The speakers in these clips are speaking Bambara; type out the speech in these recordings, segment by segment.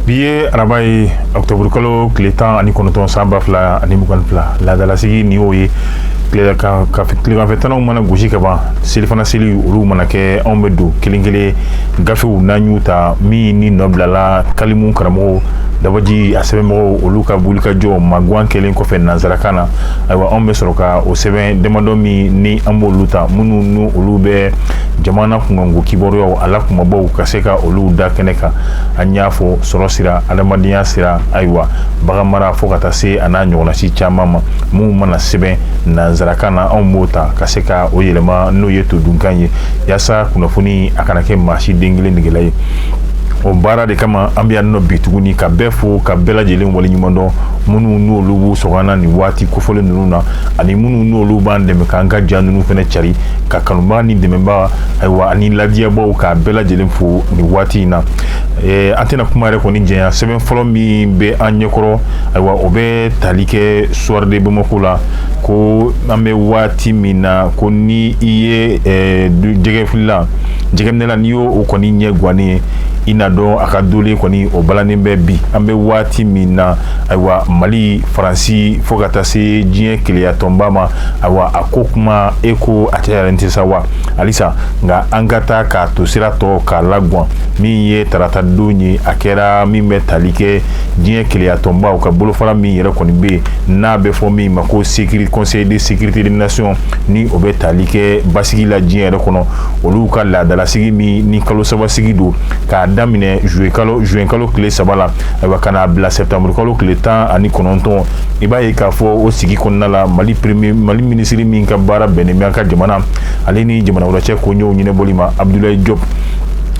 bi ye araba ye ɔkutɔburukalo tile tan ani kɔnɔntɔn san ba fila ani mugan ni fila laadalasigi nin y'o ye tileganfɛ tananw mana gosi ka ban selifana seli olu mana kɛ anw bɛ don kelen kelen gafew n'an y'u ta min ni nɔ bilala kalimu karamɔgɔ dabaji a sɛbɛnmɔgɔw olu ka boli ka jɔ magan kɛlen kɔfɛ nansarakan na ayiwa anw bɛ sɔrɔ ka o sɛbɛn damadɔ min ni an b'olu ta minnu n olu bɛ jamana kunkanko kibaruya a la kumabaw ka se ka olu da kɛnɛ kan an y'a fɔ sɔrɔ sira adamadenya sira ayiwa baganmara fo ka taa se a n'a ɲɔgɔnna si caman ma minnu mana sɛbɛn nansarakan na anw b'o ta ka se ka o yɛlɛma n'o ye todunkan ye yaasa kunnafoni a kana kɛ maa si den kelen negela ye o baara de kama an bɛ yan nɔ bi tuguni ka bɛɛ fo ka bɛɛ lajɛlen waleɲumandɔn minnu n'olu b'u sɔgɔ an na nin waati kofɔlen ninnu na ani minnu n'olu b'an dɛmɛ k'an ka ja ninnu fana cari k'a kanubaa ni dɛmɛbaa ayiwa ani ladiyabaw k'a bɛɛ lajɛlen fo nin waati in na eh, an tɛna kuma yɛrɛ kɔni janya sɛbɛn fɔlɔ min bɛ an ɲɛkɔrɔ ayiwa o bɛ tali kɛ soir de Bamako la ko an bɛ waati min na ko ni i ye eh, jɛgɛfilila jɛgɛminɛla n'i y'o o kɔni ɲɛ guwannen ye i n'a dɔn a ka dolen kɔni o balannen bɛ bi an bɛ waati min na ayiwa mali faransi fo ka taa se diɲɛ kelenyatɔnba ma ayiwa a ko kuma e ko a cayalen tɛ sa wa halisa nka an ka taa k'a to sira tɔ k'a laguwan min ye tarata don ye a kɛra min bɛ tali kɛ diɲɛ kelenyatɔnbaw ka bolofara min yɛrɛ kɔni bɛ yen n'a bɛ fɔ min ma ko sekiri conseil de sécurité des nations ni o bɛ tali kɛ basigi la diɲɛ yɛrɛ kɔnɔ olu ka laadalasigi min ni kalo sabasigi don k'a daminɛ zuwekalo zuwekalo tile saba la ayiwa ka n'a bila sɛptamurukalo tile tan ani kɔnɔntɔn i b'a ye k'a fɔ o sigi kɔnɔna la mali premier mali minisiri min ka baara bɛnnen bɛ an ka jamana ale ni jamana wɛrɛ cɛ koɲɛw ɲɛnabɔli ma abudulayi jɔp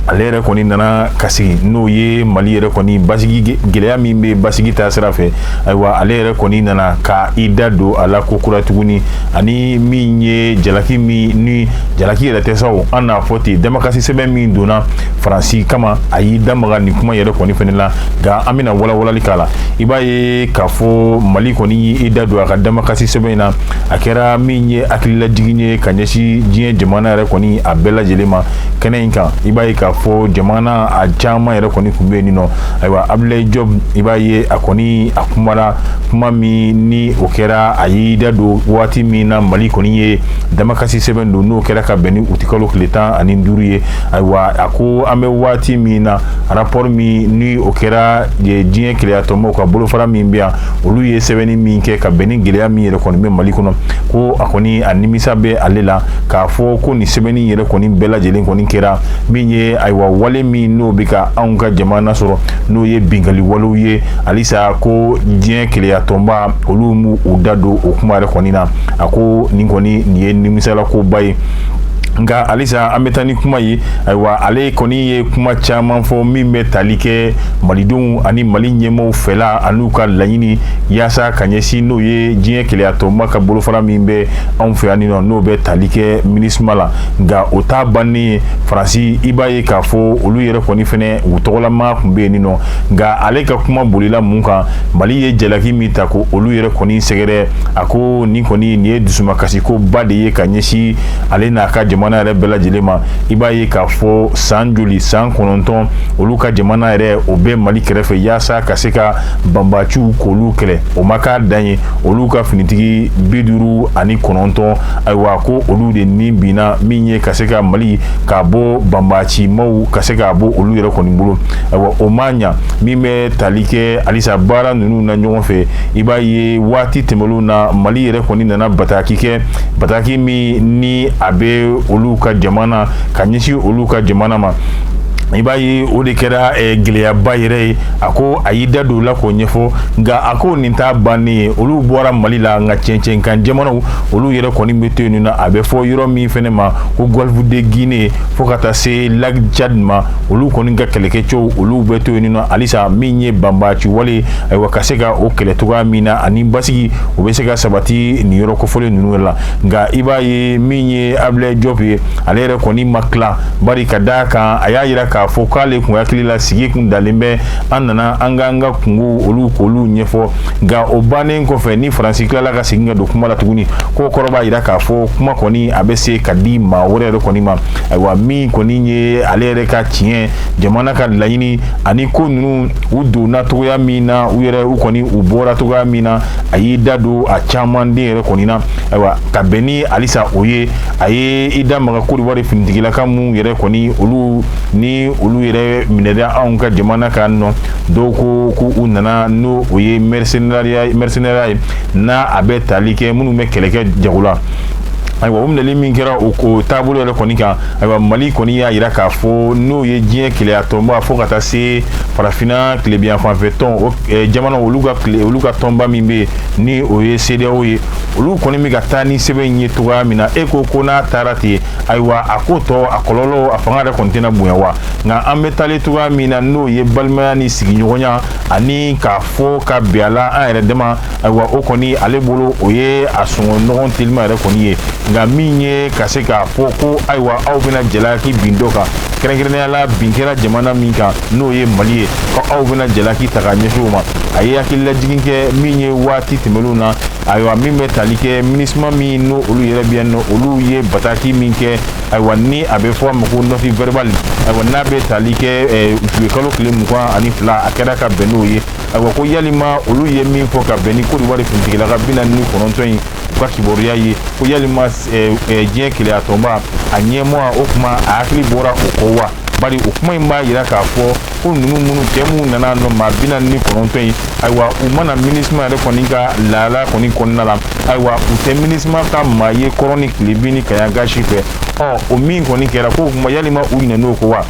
ale yɛrɛ kɔni nana ka sigi n'o ye mali yɛrɛ kɔni basigi gɛlɛya min bɛ basigi ta sira fɛ ayiwa ale yɛrɛ kɔni nana ka i da don a la ko kura tuguni ani min ye jalaki min ni jalaki yɛrɛ tɛ sa o an n'a fɔ ten damakasi sɛbɛn min donna faransi kama a y'i damaga nin kuma yɛrɛ kɔni fana la nka an bɛna walawalali k'a la i b'a ye k'a fɔ mali kɔni y'i da don a ka damakasi sɛbɛn in na a kɛra min ye hakililajigin ye ka ɲɛsin diɲɛ jamana yɛrɛ kɔni a bɛɛ lajɛlen ma kɛnɛ in kan i b'a ye k'a fɔ jamana a caman yɛrɛ kɔni tun bɛ yen nɔ ayiwa abudulayi jɔp i b'a ye a kɔni a kumara kuma min ni o kɛra a y'i da don waati min na mali kɔni ye damakasi sɛbɛn don n'o kɛra ka bɛn ni uti kalo tile tan ani duuru ye ayiwa a ko an bɛ waati min na rapport min ni o kɛra diɲɛ keleyatɔnba ka bolofara min bɛ yan olu ye sɛbɛnni min kɛ ka bɛn ni gɛlɛya min yɛrɛ kɔni bɛ mali kɔnɔ ko a kɔni a nimisa bɛ ale la k'a fɔ ko nin sɛbɛnni yɛrɛ kɔni bɛɛ lajɛlen kɔni kɛra min ye ayiwa wale min n'o bɛ ka anw ka jamana sɔrɔ n'o ye binkali walew ye halisa ko diɲɛ keleyatɔnba olu m'u da don o kuma yɛrɛ kɔni na a ko nin kɔni nin ye nimisala koba ye nka halisa an bɛ taa ni kuma ye ayiwa ale kɔni ye kuma caman fɔ min bɛ tali kɛ malidenw ani mali ɲɛmɔgɔw fɛla an'u ka laɲini yaasa ka ɲɛsin n'o ye diɲɛ keleyatɔnba ka bolofara min bɛ anw fɛ yanni nɔ n'o bɛ tali kɛ minisuma la nka o t'a bannen ye faransi i b'a ye k'a fɔ olu yɛrɛ kɔni fɛnɛ u tɔgɔlamaa tun bɛ yen nɔ nka ale ka kuma bolila mun kan mali ye jalaki min ta ko olu yɛrɛ kɔni sɛgɛrɛ a ko nin kɔni nin ye dusuma kasi ko ba de ye ka ɲɛsin ale n'a ka jamana yɛrɛ bɛɛ lajɛlen ma i b'a ye k'a fɔ san joli san kɔnɔntɔn olu ka jamana yɛrɛ o bɛ mali kɛrɛfɛ yaasa ka se ka banbaciw k'olu kɛlɛ o ma k'a dan ye olu ka finitigi bi duuru ani kɔnɔntɔn ayiwa ko olu de ni binna min ye ka se ka mali k'a bɔ banbacimaw ka se k'a bɔ olu yɛrɛ kɔni bolo ayiwa o ma ɲa min bɛ tali kɛ halisa baara ninnu na ɲɔgɔn fɛ i b'a ye waati tɛmɛnenw na mali yɛrɛ kɔni nana bataki kɛ bataki min ni a bɛ olu ka jamana ka ɲɛsin olu ka jamana ma i b'a ye o de kɛra eh, gɛlɛyaba yɛrɛ ye a ko a y'i da don o la k'o ɲɛfɔ nka a ko nin t'a bannen ye olu bɔra mali la nka cɛncɛn kan jamanaw olu yɛrɛ kɔni bɛ to yen nɔ a bɛ fɔ yɔrɔ min fɛnɛ ma ko golfe de guinée fo ka taa se lac tchad ma olu kɔni ka kɛlɛkɛcɛw olu bɛ to yen nɔ halisa min ye banbaci wale ayiwa ka se ka o kɛlɛ cogoya min na ani basigi o bɛ se ka sabati nin yɔrɔ kofɔlen ninnu la nka i b'a ye min ye abdoulaye diop ye ale yɛrɛ kɔni ma tila bari ka da a kan a y'a jira k'a fɔ k'ale tun hakili la sigi kun dalen bɛ an nana an ka an ka kunkow olu k'olu ɲɛfɔ nka o bannen kɔfɛ ni faransi tilala ka segin ka don kuma la tuguni ko kɔrɔ b'a yira k'a fɔ kuma kɔni a bɛ se ka di maa wɛrɛ yɛrɛ kɔni ma ayiwa min kɔni ye ale yɛrɛ ka tiɲɛ jamana ka laɲini ani ko ninnu u donna cogoya min na u yɛrɛ u kɔni u bɔra cogoya min na a y'i da don a caman de yɛrɛ kɔni na ayiwa ka bɛn ni halisa o ye a ye i da maga kodiwari finitigilakaw minnu yɛrɛ kɔni olu ni olu yɛrɛ minɛda anw ka jamana kɔnɔ dɔw ko ko u nana n'o o ye mercenariat ye mercenariat ye n'a a bɛ tali kɛ minnu bɛ kɛlɛ kɛ jago la ayiwa o minɛli min kɛra o ko taabolo yɛrɛ kɔni kan ayiwa mali kɔni y'a yira k'a fɔ n'o ye diɲɛ keleya tɔnba fo ka taa se farafina tilebiyan fanfɛ tɔn o eh, jamana olu ka kile olu ka tɔnba min bɛ ni o ye CEDEAO ye olu kɔni bɛ ka taa ni sɛbɛn in ye cogoya min na e ko ko n'a taara ten ayiwa a ko tɔ a kɔlɔlɔ a fanga yɛrɛ kɔni tɛna bonya wa nka an bɛ taalen cogoya min na n'o ye balimaya ni sigiɲɔgɔnya ani k'a fɔ ka bɛn a la an yɛrɛ dama ayiwa o kɔni ale bolo o ye a sɔngɔ nɔgɔn telima yɛrɛ kɔni ye nka min ye ka se k'a fɔ ko ayiwa aw bɛna jalaki bin dɔ kan kɛrɛnkɛrɛnnenya la bin kɛra jamana min kan n'o ye mali ye ko aw bɛna jalaki ta ka ɲɛsin o ma a ye hakililajigin kɛ min ye waati tɛmɛnenw na ayiwa min bɛ tali kɛ minisima min n'o olu yɛrɛ bɛ yan nɔ olu ye bataki min kɛ ayiwa ni a bɛ fɔ a ma ko note verbale ayiwa n'a bɛ tali kɛ eh, zuye kalo tile mugan ani fila a kɛra ka bɛn n'o ye ayiwa ko yalima olu ye min fɔ ka bɛn ni kodiwari finitigilaka bi naani ni kɔnɔntɔn in u ka kibaruya ye ko yalima eh, eh, diɲɛ keleyatɔnba a ɲɛmɔgɔ o kuma a hakili bɔra o kɔ wa bari o kuma in b'a yira k'a fɔ ko ninnu minnu kɛ minnu nana nɔ maa bi naani ni kɔnɔntɔn ye ayiwa u ma na minisima yɛrɛ kɔni ka lahala kɔni kɔnɔna la ayiwa u tɛ minisima ka maa ye kɔrɔn ni tilebin ni kaɲaga si fɛ ɔ o min kɔni kɛra ko kuma yalima u ɲinɛn'o kɔ wa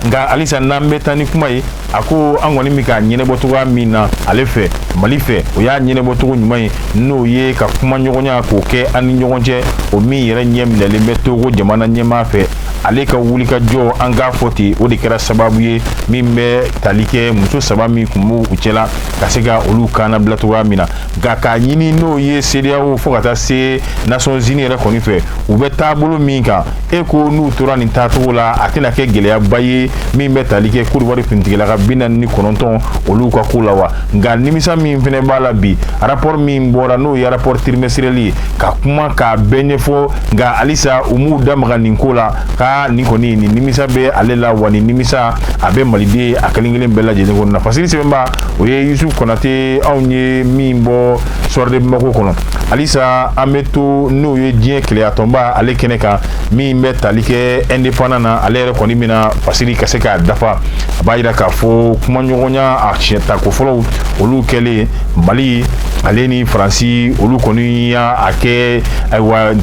nka halisa n'an bɛ taa ni kuma ye a ko an kɔni bɛ k'a ɲɛnɛbɔ cogoya min na ale fɛ mali fɛ o y'a ɲɛnɛbɔ cogo ɲuman ye n'o ye ka kuma ɲɔgɔnya k'o kɛ an ni ɲɔgɔn cɛ o min yɛrɛ ɲɛminɛlen bɛ togo jamana ɲɛmaa fɛ ale ka wulikajɔ an k'a fɔ ten o de kɛra sababu ye min bɛ tali kɛ muso saba min kun b'u cɛla ka se ka olu kannabila cogoya min na nka k'a ɲini n'o ye sedeyawo fo ka taa se nations unies yɛrɛ kɔni fɛ u bɛ taabolo min kan e ko n'u tora nin taacogo la a tɛna kɛ gɛlɛyaba ye min bɛ tali kɛ kodiwari finitigilaka bi naani ni kɔnɔntɔn olu ka ko la wa nka nimisa min fɛnɛ b'a la bi rapport min bɔra n'o ye rapport trimestriel ye ka kuma k'a bɛɛ ɲɛfɔ nka halisa u m'u da maga nin ko la ka nin kɔni nin nimisa bɛ ale la wa nin nimisa a bɛ maliden a kelen kelen bɛɛ lajɛlen kɔnɔna fasiri sɛbɛnbaa o ye yusuf konate anw ye min bɔ soir de bamako kɔnɔ halisa an bɛ to n'o ye diɲɛ keleyatɔnba ale kɛnɛ kan min bɛ tali kɛ indépendant na ale yɛrɛ kɔni bɛna fasiri ka se k'a dafa a b'a yira k'a fɔ kumaɲɔgɔnya a siɲɛ tako fɔlɔw olu kɛlen mali ale ni faransi olu kɔni y'a kɛ ayiwa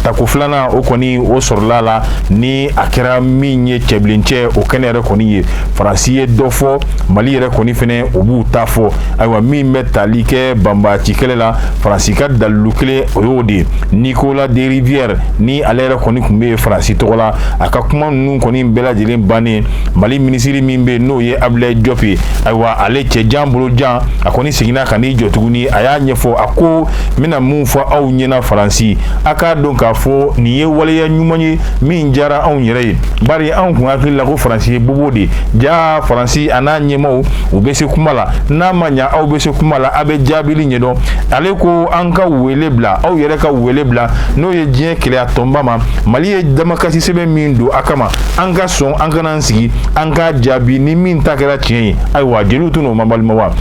tako filanan o kɔni o sɔrɔla la ni a kɛra min ye cɛbilencɛ o kɛnɛ yɛrɛ kɔni ye faransi ye dɔ fɔ mali yɛrɛ kɔni fɛnɛ o b'u ta fɔ ayiwa min bɛ tali kɛ banbaci kɛlɛ la faransi ka dalilu kelen o y'o de ye nicolas de rivière ni ale yɛrɛ kɔni kun bɛ faransi tɔgɔ la a ka kuma ninnu kɔni bɛɛ lajɛlen bannen mali minisiri min bɛ n'o ye abilayi jɔp ye ayiwa ale cɛ jan bolo jan a kɔni seginna ka n'i jɔ tuguni a y'a ɲɛfɔ a ko n bɛna mun fɔ aw ɲɛna faransi a k'a dɔn k'a fɔ nin ye waleya ɲuman ye min diyara anw yɛrɛ ye bari anw kun hakili la ko faransi ye bobo de ja faransi a n'a ɲɛmaaw u bɛ se kuma la n'a ma ɲa aw bɛ se kuma la a bɛ jaabili ɲɛdɔn ale ko an ka wele bila aw yɛrɛ ka wele bila n'o ye diɲɛ kelenya tɔnba ma mali ye damakasi sɛbɛn min don a kama an ka sɔn an ka na an sigi an ka jaabi ni min ta kɛra tiɲɛ ye ayiwa jeliw tun n'o ma balima wa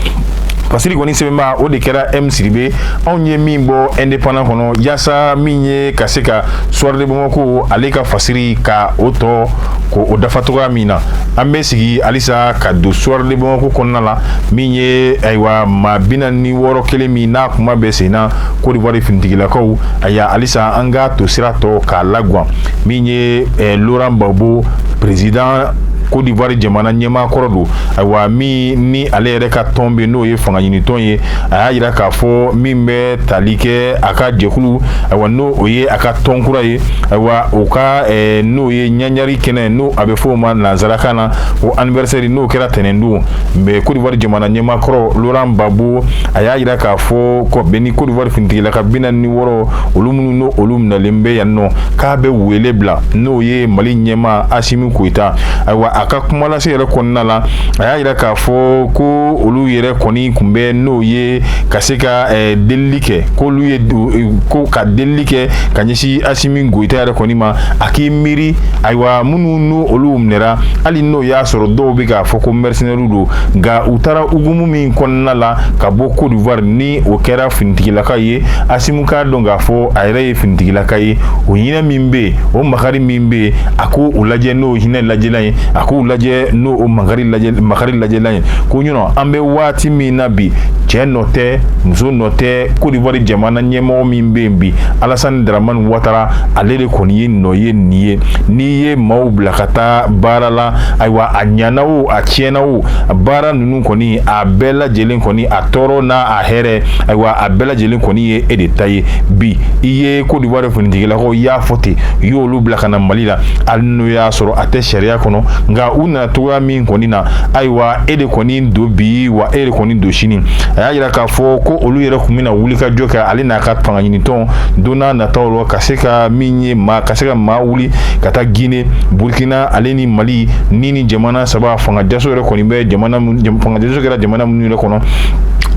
fasiri kɔni sɛbɛnbaa o de kɛra m sidibe anw ye min bɔ indépendant kɔnɔ yaasa min ye ka se ka soir de bamako ale ka fasiri ka o tɔ ko o dafa cogoya min na an bɛ segin halisa ka don soir de bamako kɔnɔna la min ye ayiwa maa bi naani ni wɔɔrɔ kelen min n'a kuma bɛ sen na Côte d'Ivoire finitigilakaw ayiwa halisa an ka to sira tɔ k'a laguwan min ye eh, Laurent Gbagbo président Côte d'Ivoire jamana ɲɛmaa kɔrɔ don ayiwa min ni ale yɛrɛ ka tɔn bɛ n'o ye fangaɲinitɔn ye a y'a yira k'a fɔ min bɛ tali kɛ a ka jɛkulu ayiwa n'o o ye a ka tɔn kura ye ayiwa o ka eh, n'o ye ɲagari kɛnɛ n'o a bɛ fɔ o ma nansarakan na o anniversaire n'o kɛra tɛnɛndon mais Côte d'Ivoire jamana ɲɛmaa kɔrɔ Laurent Gbagbo a y'a yira k'a fɔ ko bɛn ni Côte d'Ivoire finitigilaka bi naani ni wɔɔrɔ olu minnu n'olu minɛlen bɛ yan nɔ k'a bɛ wele bila n'o ye ye mali ɲɛmaa asimi goyita ayiwa a ka kumalase yɛrɛ kɔnɔna la a y'a yira k'a fɔ ko olu yɛrɛ kɔni kun bɛ n'o ye ka se ka eh, delili kɛ k'olu ye eh, ko ka delili kɛ ka ɲɛsin asimi goyita yɛrɛ kɔni ma a k'i miiri ayiwa minnu n'olu minɛra hali n'o y'a sɔrɔ dɔw bɛ k'a fɔ ko mɛrisinɛriw don nka u taara hukumu min kɔnɔna la ka bɔ Côte d'Ivoire ni o kɛra finitigilaka ye asimi k'a dɔn k'a fɔ a yɛrɛ ye finitigilaka ye o hinɛ min bɛ yen o makari min bɛ yen a k'o lajɛ n'o hinɛ lajɛlan ye a k'o lajɛ n'o o makari lajɛlan ye ko ɲɔnɔ an bɛ waati min na bi cɛ nɔ tɛ muso nɔ tɛ kodiwari jamana ɲɛmɔgɔ min bɛ yen bi alasani daramani watara ale de kɔni ye nɔ ye nin ye n'i ye maaw bila ka taa baara la ayiwa a ɲana o a tiɲɛna o baara ninnu kɔni a bɛɛ lajɛlen kɔni a tɔɔrɔ n'a a hɛrɛ ayiwa a bɛɛ lajɛlen kɔni ye e de ta ye bi i ye e kodiwari finitigilakaw y'a fɔ ten u y'olu bila ka na mali la hali n'o y'a sɔrɔ a tɛ sariya kɔnɔ nka u nana cogoya min kɔni na ayiwa e de kɔni don bi wa e de kɔni don sini a y'a jira k'a fɔ ko olu yɛrɛ tun bɛna wuli ka jɔ kɛ ale n'a ka fanga ɲinitɔn don nataw la ka se ka min ye maa ka se ka maa wuli ka taa gine burkina ale ni mali ni nin jamana saba fanga jaso yɛrɛ kɔni bɛ jamana fanga jaso kɛra jamana minnu yɛrɛ kɔnɔ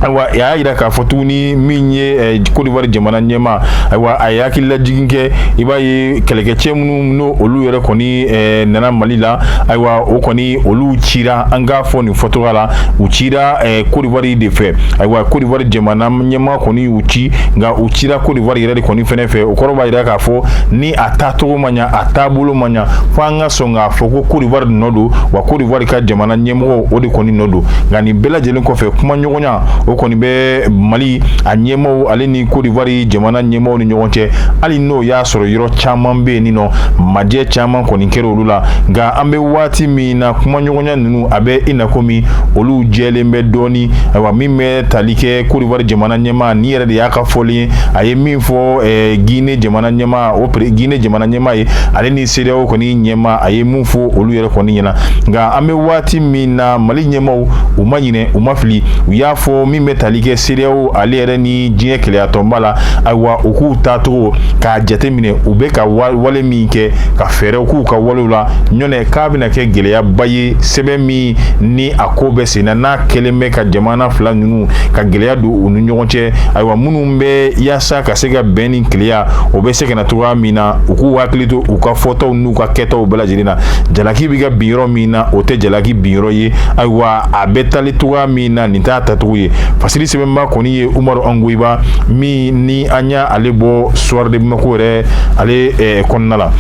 ayiwa a y'a jira k'a fɔ tuguni min ye kodiwari jamana ɲɛmaa ayiwa a ye hakililajigin kɛ i b'a ye kɛlɛkɛcɛ minnu n'o olu yɛrɛ kɔni nana mali la ayiwa o kɔni olu cira an k'a fɔ nin fɔcogoya la u cira kodiwari de fɛ ayiwa kodiwari jamana ɲɛmaa kɔni y'u ci nka u cira kodiwari yɛrɛ de kɔni fɛnɛ fɛ o kɔrɔ b'a jira k'a fɔ ni a tacogo ma ɲɛ a taabolo ma ɲɛ fo an ka sɔn k'a fɔ ko kodiwari nɔ don wa kodiwari ka jamana ɲɛmɔgɔ o de kɔni nɔ don nka nin bɛɛ lajɛlen kɔfɛ kuma ɲɔgɔn gɔnya o kɔni bɛ mali a ɲɛmɔgɔw ale ni kodiwari jamana ɲɛmɔgɔw ni ɲɔgɔn cɛ hali n'o y'a sɔrɔ yɔrɔ caman bɛ yen nin nɔ majɛ caman kɔni kɛra olu la nka an bɛ waati min na kumaɲɔgɔnya ninnu a bɛ i na komi olu jɛlen bɛ dɔɔni ayiwa min bɛ tali kɛ kodiwari jamana ɲɛmaa ni yɛrɛ de y'a ka fɔlen ye a ye min fɔ ɛɛ gine jamana ɲɛmaa o yɛrɛ gine jamana ɲɛmaa ye ale ni sedeyaw kɔni ɲɛmaa a ye mun fɔ olu yɛrɛ kɔni ɲɛna nka an bɛ waati min na mali ɲɛmɔgɔw u ma ɲinɛ u ma fili u y'a fɔ min bɛ tali kɛ sedeyaw ale yɛrɛ ni diɲɛ kelenyatɔnba la ayiwa u k'u taacogo k'a jateminɛ u bɛ ka wale min kɛ ka fɛɛrɛw k'u ka walew la ɲɔnɛ k'a bɛna kɛ gɛlɛyaba ye sɛbɛn min ni a ko bɛ senna n'a kɛlen bɛ ka jamana fila ninnu ka gɛlɛya don u ni ɲɔgɔn cɛ ayiwa minnu bɛ yaasa ka se ka bɛn ni kelenya o bɛ se ka na cogoya min na u k'u hakili to u ka fɔtaw n'u ka kɛtaw bɛɛ lajɛlen na jalaki bɛ ka bin yɔrɔ min na o tɛ jalaki bin yɔrɔ ye ayiwa a bɛ tali cogoya min na nin t'a tacogo ye fasiri sɛbɛnba kɔni ye umaru angoyiba min ni an y'ale bɔ soir de bamako yɛrɛ ale eh, kɔnɔna la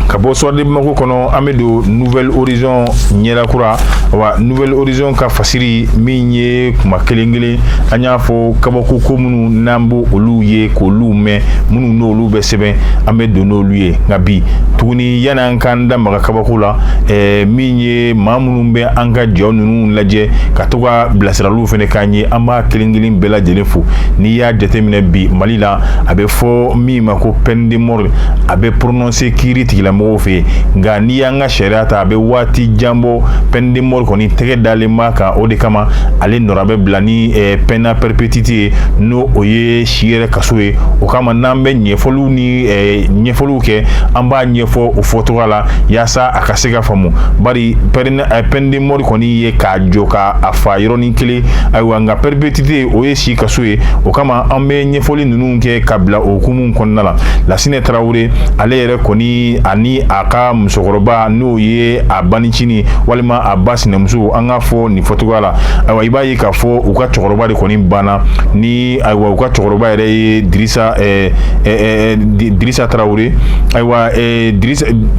ka bɔ soir de bamako kɔnɔ an bɛ don nouvel horizon ɲɛda kura wa nouvel horizon ka fasiri min ye kuma kelen kelen an y'a fɔ kabako ko minnu n'an b'olu ye k'olu mɛn minnu n'olu bɛ sɛbɛn an bɛ don n'olu ye nka bi tuguni yanni an k'an da maga kabako la ɛɛ eh, min ye maa minnu bɛ an ka jaw ninnu lajɛ ka to ka bilasiraliw fana k'an ye an b'a kelen kelen bɛɛ lajɛlen fo n'i y'a jateminɛ bi mali la a bɛ fɔ min ma ko peine de mort a bɛ prononcer kiiritigɛlamɔgɔw fɛ yen nka n'i y'an ka sariya ta a bɛ waati jan bɔ peine de mort kɔni tɛgɛ dalen b'a kan o de kama ale nɔra bɛ bila ni eh, peine à perpétuité ye n'o o ye si yɛrɛ kaso ye o kama n'an bɛ ɲɛfɔliw ni eh, ɲɛfɔliw kɛ an b'a ɲɛfɔ o fɔcogoya la yaasa a ka se ka faamu bari peine de mort kɔni ye k'a jɔ ka a fa yɔrɔnin kelen ayiwa nka perpétuité o ye si kaso ye o kama an bɛ ɲɛfɔli ninnu kɛ ka bila o hukumu kɔnɔna la lasinɛ tarawele ale yɛrɛ kɔni ani a ka musokɔrɔba n'o ye a banicini walima a ba sinamuso an k'a fɔ nin fɔcogoya la ayiwa i b'a ye k'a fɔ u ka cɛkɔrɔba de kɔni banna ni ayiwa u ka cɛkɔrɔba yɛrɛ ye dirisa eh, eh, dirisa tarawele ayiwa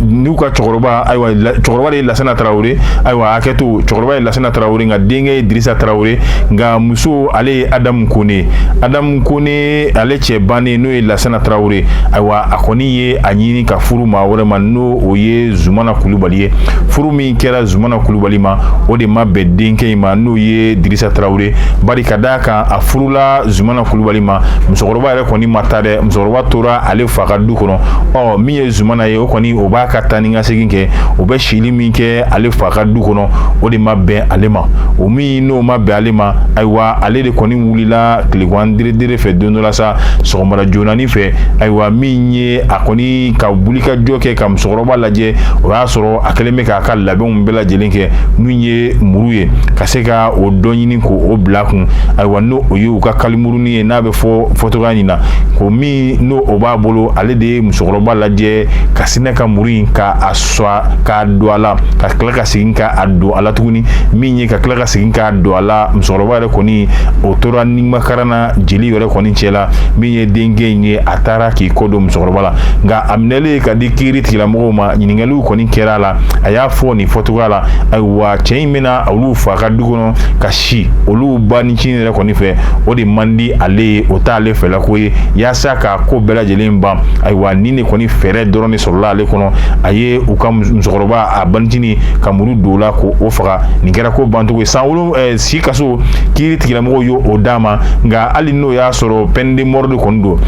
n'u ka cɛkɔrɔba ayiwa cɛkɔrɔba de ye lasana tarawele ayiwa hakɛ to cɛkɔrɔba ye lasana tarawele nka denkɛ ye dirisa tarawele nka muso ale ye adamu kɔnɛ adamu kɔnɛ ale cɛ bannen n'o ye lasana tarawele ayiwa a kɔni ye a ɲini ka furu maa wɛrɛ ma n'o o ye zumana kulubali ye furu min kɛra zumana kulubali ma o de ma bɛn denkɛ in ma n'o ye dirisa tarawele bari ka d'a kan a furula zumana kulubali ma musokɔrɔba yɛrɛ kɔni ma taa dɛ musokɔrɔba tora ale fa ka du kɔnɔ ɔ min ye zumana ye o kɔni o b'a ka taa ni ka segin kɛ o bɛ sili min kɛ ale fa ka du kɔnɔ o de ma bɛn ale ma o min n'o ma bɛn ale ma ayiwa ale de kɔni wulila tilegan deredere fɛ don dɔ la sa sɔgɔmada joonani fɛ ayiwa min ye a kɔni ka wuli ka jɔ kɛ ka musokɔrɔba lajɛ o y'a sɔrɔ a kɛlen bɛ k'a ka labɛnw bɛɛ lajɛlen kɛ min ye muru ye ka se ka o dɔ ɲini k'o bila kun ayiwa n'o o ye u ka kalimuruni ye n'a bɛ fɔ fɔcogoya nin na ko min n'o o b'a bolo ale de ye musokɔrɔba lajɛ ka sinɛ ka muru in ka a swa k'a don a la ka tila ka segin ka a don a la tuguni min ye ka tila ka segin k'a don a la musokɔrɔba yɛrɛ kɔni o tora nimakaran na jeli yɛrɛ kɔni cɛ la min ye denkɛ in ye a taara k'i kɔ don musokɔrɔba la nka a minɛlen ka di kiiritigɛlamɔgɔw ma ɲininkaliw kɔni kɛra a la a y'a fɔ nin fɔcogoya la ayiwa cɛ in bɛ na olu fa ka du kɔnɔ ka si olu banicini yɛrɛ kɔni fɛ o de man di ale ye o t'ale fɛlako ye yaasa ka ko bɛɛ lajɛlen ban ayiwa nin de kɔni fɛɛrɛ dɔrɔn de sɔrɔla ale kɔnɔ a ye u ka musokɔrɔba a banicini ka muru don o la k'o faga nin kɛra ko bancogo ye san wolo eh, si kaso kiiritigɛlamɔgɔw y'o d'a ma nka hali n'o y'a sɔrɔ peine de mort de kɔni don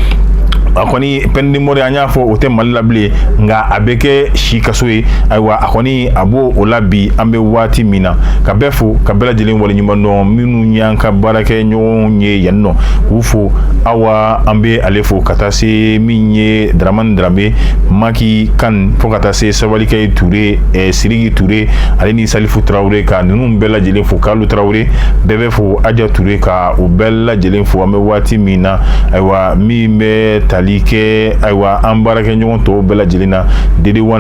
a kɔni peine de mort an y'a fɔ o tɛ mali la bilen nka a bɛ kɛ si kaso ye ayiwa a kɔni a b'o o la bi an bɛ waati min na ka bɛɛ fo ka bɛɛ lajɛlen waleɲuman dɔn minnu y'an ka baarakɛɲɔgɔnw ye yan nɔ k'u fo awa an bɛ ale fo ka taa se min ye daramani daramɛ maki kan fo ka taa se sabalikɛ ture eh, siriki ture ale ni salifu tarawele ka ninnu bɛɛ lajɛlen fo kalu tarawele bɛɛ bɛ fo aja ture ka u bɛɛ lajɛlen fo an bɛ waati min na ayiwa min bɛ tali kɛ ayiwa an baarakɛɲɔgɔn tɔw bɛɛ lajɛlen na dede